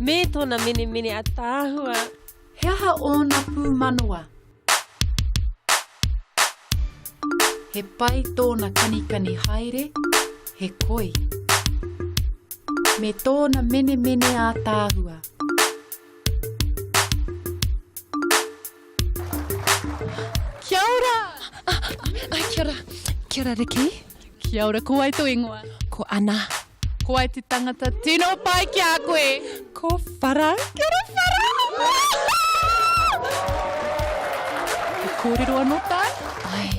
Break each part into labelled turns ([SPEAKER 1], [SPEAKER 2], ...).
[SPEAKER 1] Me tona menemene ataahua. He aha ōna pūmanawa? He pai tōna kanikani haere, he koi. Me tōna menemene ātaahua. Kia ora! Ai, kia ora. Kia ora, Riki. Kia ora, ko ai tō ingoa? Ko Ana. Ko ai te tangata tino pai ki a koe? Ko Whara. Kia ora, Whara! He kōrero anō tāu? Ai,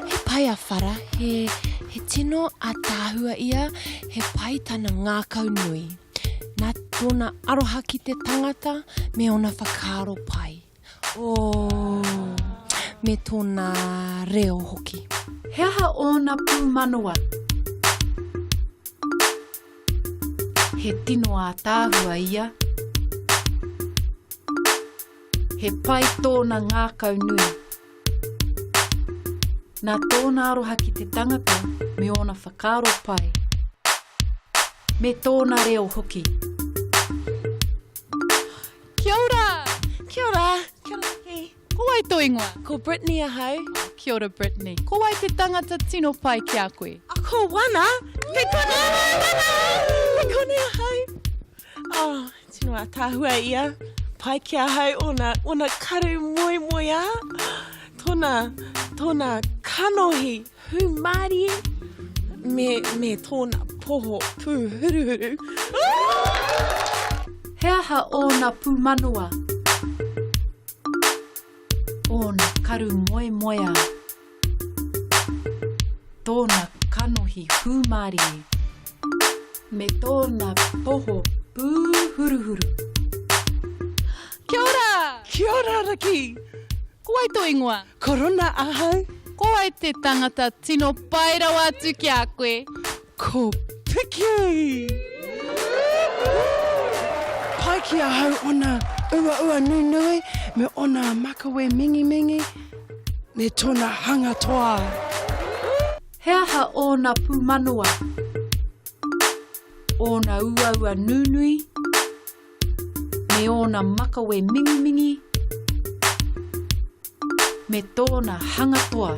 [SPEAKER 1] he pai a Whara, he, he tino ātaahua ia, he pai tana ngākau nui. Nā tōna aroha ki te tangata me ōna whakaaro pai. Ooh! Me tōna reo hoki. He aha ōna pūmanawa? He tino ātaahua ia. He pai tōna ngākau nui. Nā tōna aroha ki te tangata me ōna whakaaro pai. Me tōna reo hoki. Kia ora! Kia ora! Kia ora ki. Ko wai tō ingoa? Ko Brittany ahau. Kia ora Brittany. Ko wai te tangata tino pai ki a koe? Ko Wana! Kei konei ahau! Kei konei ahau! Oh, tino atahua ia. Pai ki a hau ona, ona karu moe moe a. Tona, tona kanohi hu mari. Me, me tona poho pu huru huru. He aha ona pu manoa? Ona karu moe moe a. Tōna kanohi hūmārie. Me tōna poho pūhuruhuru. Kia ora! Kia ora, Raki! Ko wai tō ingoa? Ko Rona ahau. Ko wai te tangata tino pai rawa atu ki a koe? Ko Piki! Pai ki ahau ona uaua nunui me ona makawe mingimingi me tona hanga toa. He aha ōna pūmanawa, ōna uaua nunui, me ōna makawe mingimingi me tōna hanga toa?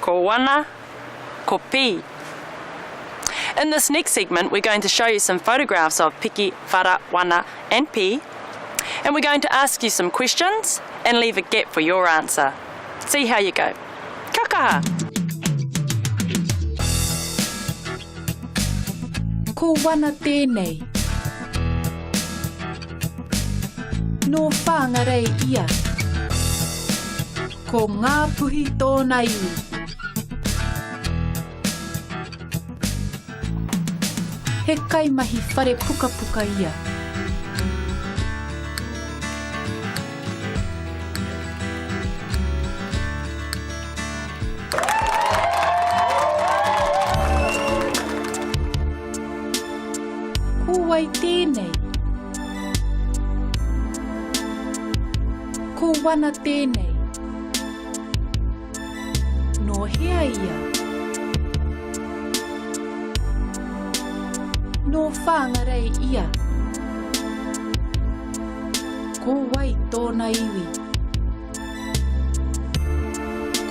[SPEAKER 1] Ko wana, ko pi. In this next segment we're going to show you some photographs of piki, whara, wana and pi and we're going to ask you some questions and leave a gap for your answer. See how you go. Kia kaha! Ko wana tēnei. Nō Whāngarei ia. Ko Ngāpuhi tōna iwi. He kaimahi whare pukapuka ia. Ko wai tēnei? Ko Wana tēnei. Nō hea ia? Nō Whāngarei ia. Ko wai tōna iwi?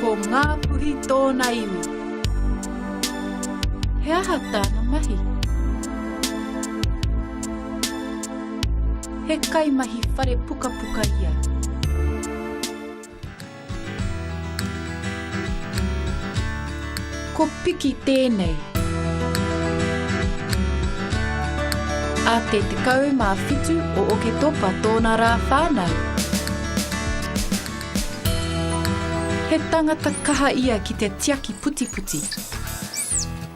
[SPEAKER 1] Ko Ngāpuhi tōna iwi. He aha tāna mahi? He kaimahi whare pukapuka ia. Ko Piki tēnei. A te 17 o Oketopa tōna rā whānau. He tangata kaha ia ki te tiaki putiputi.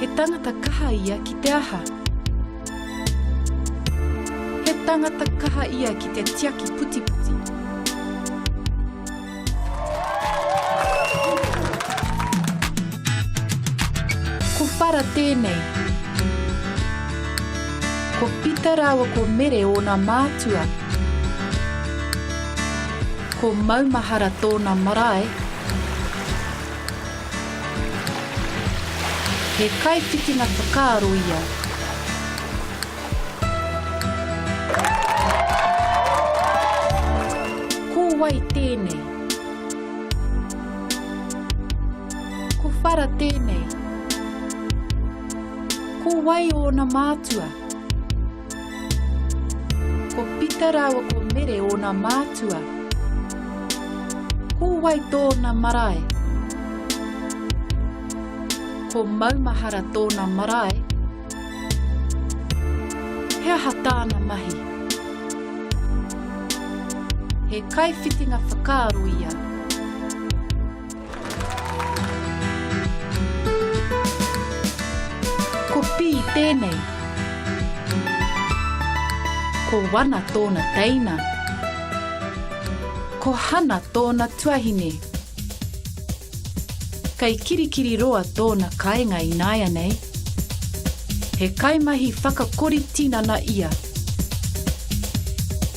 [SPEAKER 1] He tangata kaha ia ki te aha? He tangata kaha ia ki te tiaki putiputi. Ko Whara tēnei. Ko Pita rāua ko Mere ōna mātua. Ko Maumahara tōna marae. He kaiwhitinga whakaaro ia. Ko wai tēnei? Ko whara tēnei? Ko wai ōna mātua? Ko Pita rāua ko Mere ōna mātua. Ko wai tōna marae? Ko Maumahara tōna marae. He aha tāna mahi? He kaiwhitinga whakaaro ia. Ko Pī tēnei. Ko Wana tōna teina. Ko Hana tōna tuahine. Kei Kirikiriroa tōna kāinga ināianei. He kaimahi whakakori tinana ia.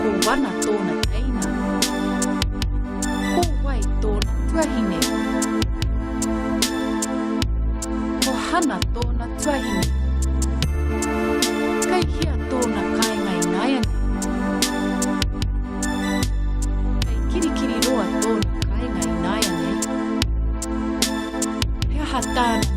[SPEAKER 1] Ko Wana tōna teina. Ko Wai tōna tuahine. Ko Hana tōna tuahine. Kei hea tōna kainga inaianei? Kei kirikiri roa tōna kainga inaianei? He aha tāna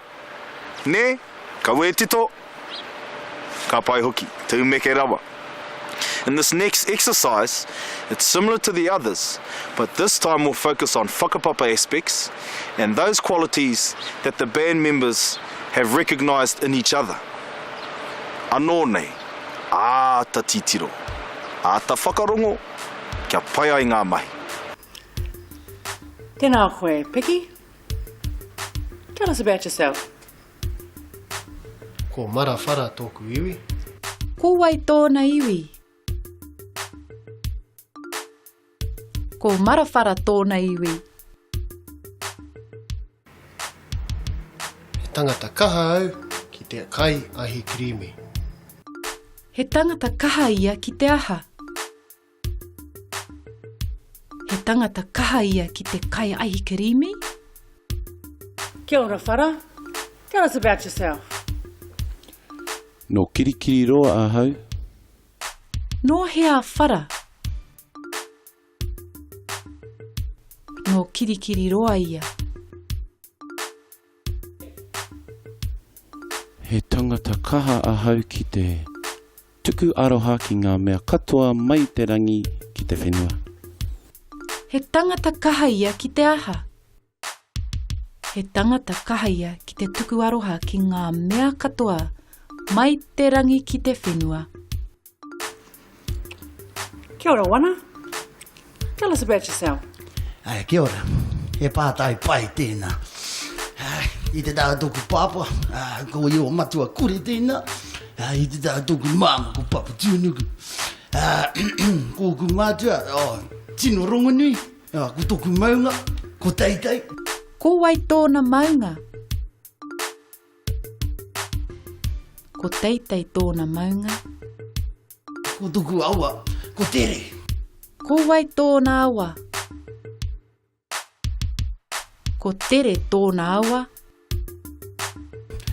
[SPEAKER 1] Nē? Ka wētito, ka pai hoki, te umeke rawa. In this next exercise, it's similar to the others, but this time we'll focus on whakapapa aspects and those qualities that the band members have recognised in each other. Anō nei, āta titiro, āta whakarongo kia pai ai ngā mahi. Tēnā koe, Piki. Tell us about yourself. Ko Mara Whara tōku iwi. Ko wai tōna iwi? Ko Mara Whara tōna iwi. He tangata kaha au ki te kai ahi kirīmi. He tangata kaha ia ki te aha? He tangata kaha ia ki te kai aihi kirimi. Kia ora whara, tell us about yourself. No Kirikiriroa ahau. No hea whara? No Kirikiriroa ia. He tangata kaha ahau ki te tuku aroha ki ngā mea katoa mai te rangi ki te whenua. He tangata kaha ia ki te aha? He tangata kaha ia ki te tuku aroha ki ngā mea katoa mai te rangi ki te whenua. Kia ora Wana. Tell us about yourself. Ai, kia ora. He pātai pai tēnā. Ai, i te tāra tōku pāpā, ah, ko i o matua kuri tēnā. Ai, i te tāra tōku māma, ko Papa Tūnuku. Ah, ko ku mātua, oh, tino rongonui, ah, ko tōku maunga, ko Taitai. Ko wai tōna maunga? Ko Teitei tōna maunga. Ko tuku awa, ko Tere. Ko wai tōna awa? Ko Tere tōna awa.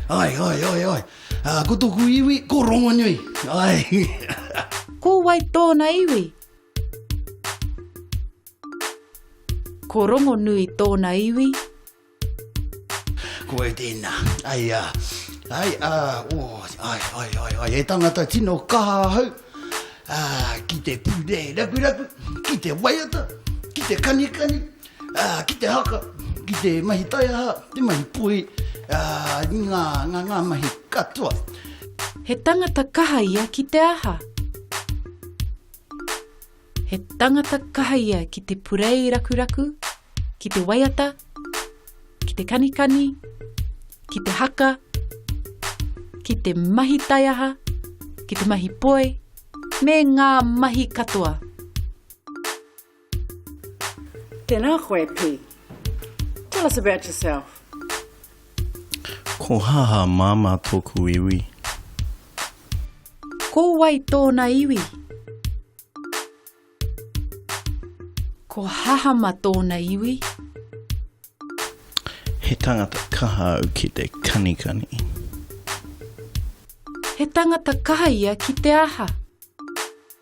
[SPEAKER 1] Ai, ai, ai, ai. Uh, ko tuku iwi, ko Rongonui. Ai. ko wai tōna iwi? Ko Rongonui tōna iwi. Ko e tēnā, ai a, ai a, o, ai, ai, ai, ai, e tangata tino kaha ahau, a, ki te pūre raku raku, ki te waiata, ki te kanikani, a, ki te haka, ki te mahi taiaha, te mahi pui, a, ngā, ngā, ngā mahi katoa. He tangata kaha ia ki te aha? He tangata kaha ia ki te purei rakuraku, ki te waiata, ki te kanikani, ki te haka, ki te mahi taiaha, ki te mahi poi, me ngā mahi katoa. Tēnā koe, Pī. Tell us about yourself. Ko haha mama toku iwi. Ko wai tona iwi? Ko haha ma tona iwi. He tangata kaha au ki te kanikani. He tangata kaha ia ki te aha?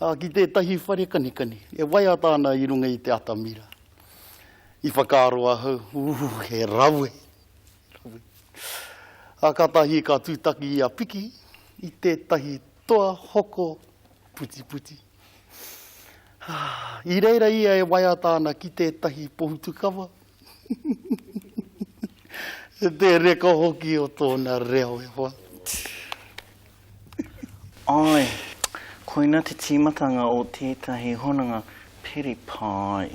[SPEAKER 1] ā, ki tētahi whare kanikani e waiata ana i runga i te atamira. I whakaaro ahau, Ū, he rawe! Rawe! Ā, kātahi ka tūtaki i a Piki i tētahi toa hoko putiputi. Ā, i reira ia e waiata ana ki tētahi pohutukawa, He te reka hoki o tōna reo e hoa. Āe, koina te tīmatanga o tētahi hononga peri pai.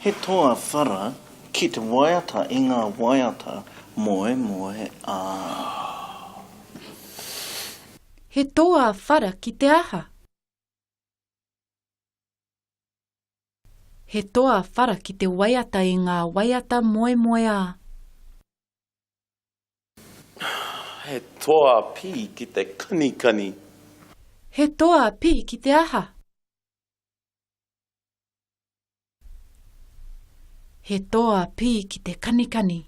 [SPEAKER 1] He toa whara ki te waiata i ngā waiata moemoe a. He toa whara ki te aha? He toa whara ki te waiata i ngā waiata moemoeā. He toa pī ki te kanikani. He toa pī ki te aha? He toa pī ki te kanikani.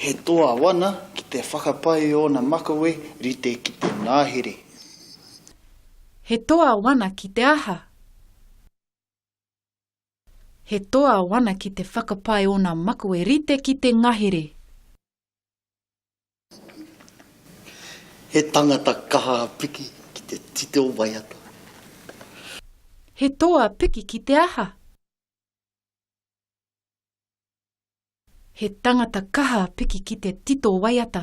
[SPEAKER 1] He toa wana ki te whakapae i ōna makawe rite ki te ngahere. He toa wana ki te aha? He toa wana ki te whakapae ōna makawe rite ki te ngahere. He tangata kaha piki ki te tito waiata. He toa piki ki te aha? He tangata kaha piki ki te tito waiata.